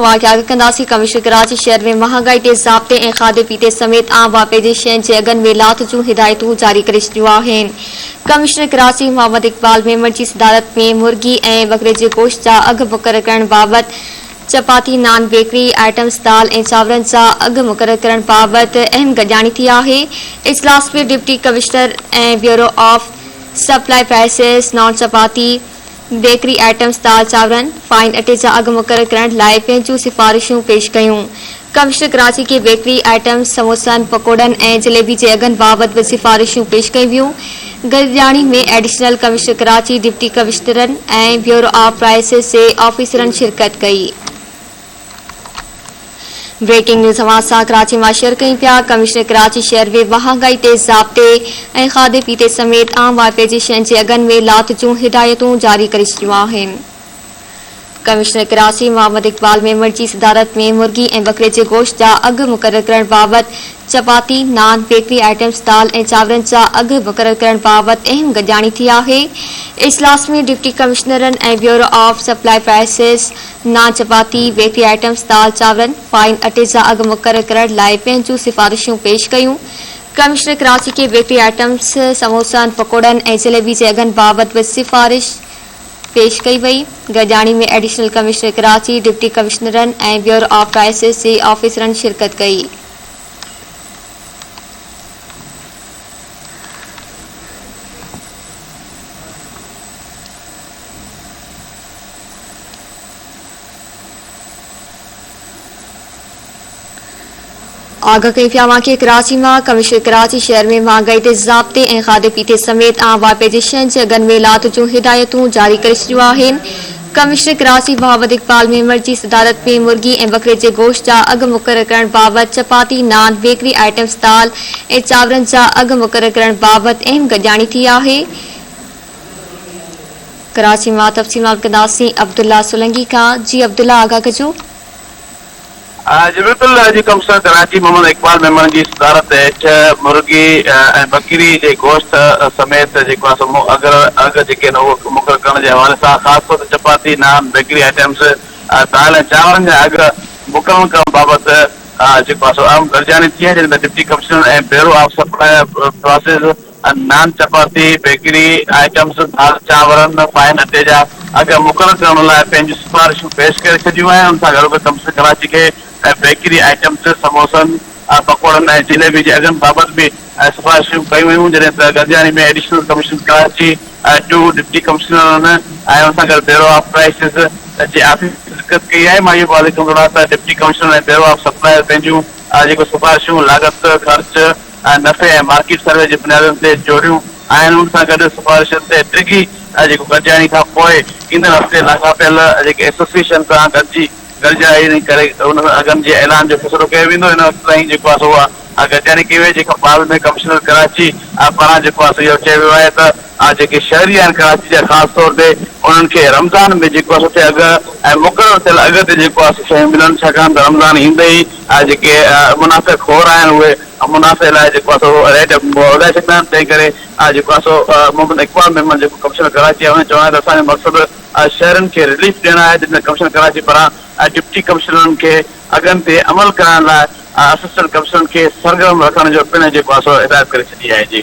اوهان کي آگاهه ڪنداسين ڪمشنر ڪراچي شهر ۾ مهانگائي تي ضابطي ۽ کاڌي پيتي سميت عام واپي جي شين جي اگهن ۾ لاٿ جون هدايتون جاري ڪري ڇڏيون آهن ڪمشنر ڪراچي محمد اقبال ميمڻ جي صدارت ۾ مرغي ۽ ٻڪري جي گوشت جا اگهه مقرر ڪرڻ بابت چپاتي نان بيڪري آئٽمز دال ۽ چانورن جا اگهه مقرر ڪرڻ بابت اهم گڏجاڻي ٿي آهي اجلاس ۾ deputy commissioner ۽ bureau of supply prices naan chapati bakery items دال چانورن فائن اٽي جا اگهه مقرر ڪرڻ لاء پنهنجون سفارشون پيش ڪيون ڪمشنر ڪراچي کي بيڪري آئٽمز سموسن پڪوڙن ۽ جليبي جي اگهن بابت به سفارشون پيش ڪيون ويون گڏجاڻي ۾ ايڊيشنل ڪمشنر ڪراچي ڊپٽي ڪمشنرن ۽ بيورو آف پرائسز جي آفيسرن شرڪت ڪئي. بريڪنگ نيوز اوهان سان ڪراچي مان شيئر ڪيون پيا ڪمشنر ڪراچي شهر وي مهانگائي تي ضابطي ۽ کاڌي پيتي سميت عام وائپي جي شين جي اگهن ۾ لاٿ جون هدايتون جاري ڪري ڇڏيون آهن ڪمشنر ڪراچي محمد اقبال ميمڻ جي صدارت ۾ مرغي ۽ ٻڪري جي گوشت جا اگهه مقرر ڪرڻ بابت چپاتي نان بيڪري آئٽمز دال ۽ چانورن جا اگهه مقرر ڪرڻ بابت اهم گڏجاڻي ٿي آهي اجلاس ۾ ڊپٽي ڪمشنرن ۽ بيورو آف سپلائي پرائسز نانچ ڀاتي، بيڪري آئٽمز، دال چانورن، فائن اٽي جا اگهه مقرر ڪرڻ لاء پنهنجون سفارشون پيش ڪيون. ڪمشنر ڪراچي کي بيڪري آئٽمز، سموسن، پڪوڙن ۽ جليبي جي اگهن بابت به سفارش پيش ڪئي وئي. گڏجاڻي ۾ ايڊيشنل ڪمشنر ڪراچي، ڊپٽي ڪمشنرن ۽ بيورو آف پرائسز جي آفيسرن شرڪت ڪئي. آگاهه ڪيو پياوان کي ڪراچي مان ڪمشنر ڪراچي شهر ۾ مهانگائي تي ضابطي ۽ کاڌي پيتي سميت عام واهپي جي شين جي اگهن ۾ لاٿ جون هدايتون جاري ڪري ڇڏيون آهن ڪمشنر ڪراچي محمد اقبال ميمڻ جي صدارت ۾ مرغي ۽ ٻڪري جي گوشت جا اگهه مقرر ڪرڻ بابت چپاتي نان بيڪري آئٽمز دال ۽ چانورن جا اگهه مقرر ڪرڻ بابت اهم گڏجاڻي ٿي آهي ڪراچي مان تفصيلات ڪنداسين عبدالله سولنگي کان جي عبدالله آگاهه ڪجو. جبيت الله جي ڪم سان ڪراچي محمد اقبال ميمڻ جي صدارت هيٺ مرغي ۽ ٻڪري جي گوشت سميت جيڪو آهي سو اگهه اگهه جيڪي آهن اهو مقرر ڪرڻ جي حوالي سان خاص طور تي چپاتي، نان، بيڪري آئيٽمز، دال ۽ چانورن جا اگهه مقرر ڪرڻ بابت جيڪو آهي سو اهم گڏجاڻي ٿي آهي جنهن ۾ deputy commissioner ۽ bureau of supply prices, naan chapati, bakery items, دال چانورن، فائن اٽي جا اگهه مقرر ڪرڻ لاء پنهنجون سفارشون پيش ڪري ڇڏيون آهن، ان سان گڏوگڏ تمسڪ ڪراچي کي بيڪري آئٽمز، سموسن، پڪوڙن ۽ جليبي جي اگهن بابت به سفارشون ڪيون ويون، جڏهن ته گڏجاڻي ۾ additional commissioner Karachi, two deputy ڪمشنرن ۽ ان سان گڏ بيورو آف پرائسز جي آفيسرن شرڪت ڪئي آهي، مان اهو به عرض ڪندو رهان ته deputy commissioner ۽ bureau of supplies پنهنجون جيڪو سفارشون لاڳت، خرچ، نفعي ۽ مارڪيٽ سروي جي بنيادن تي جوڙيون آهن ان سان گڏ سفارشن تي ڊگهي جيڪو گڏجاڻي کان پوء ايندڙ هفتي لاڳاپيل جيڪي ايسوسيئيشن سان گڏجي گڏجاڻي ڪري ان اگهن جي اعلان جو فيصلو ڪيو ويندو هن وقت تائين جيڪو آهي سو اها گڏجاڻي ڪئي وئي جنهن کان بعد ۾ ڪمشنر ڪراچي پاران جيڪو آهي سو اهو چيو ويو آهي ته آ جيڪي شهري آهن ڪراچي جا خاص طور تي انهن کي رمضان ۾ جيڪو آ سو اتي اگهه ۽ مقرر ٿيل اگهه تي جيڪو آ سو شيون ملن ڇاڪاڻ ته رمضان ايندي ئي آ جيڪي منافع خور آهن اهي منافعي لاء جيڪو آ سو ريٽ وڌائي ڇڏيندا آهن تنهن ڪري آ جيڪو آ سو محمد اقبال ميمڻ جيڪو ڪمشنر ڪراچي آهي انهن چيو آهي ته اسان جو مقصد شهرين کي رليف ڏيڻ آهي تنهن ڪري ڪمشنر ڪراچي پاران ڊپٽي ڪمشنرن کي اگهن تي عمل ڪرائڻ لاء اسسٽنٽ ڪمشنرن کي سرگرم رکڻ جو پڻ جيڪو آ سو هدايت ڪري ڇڏي آهي جي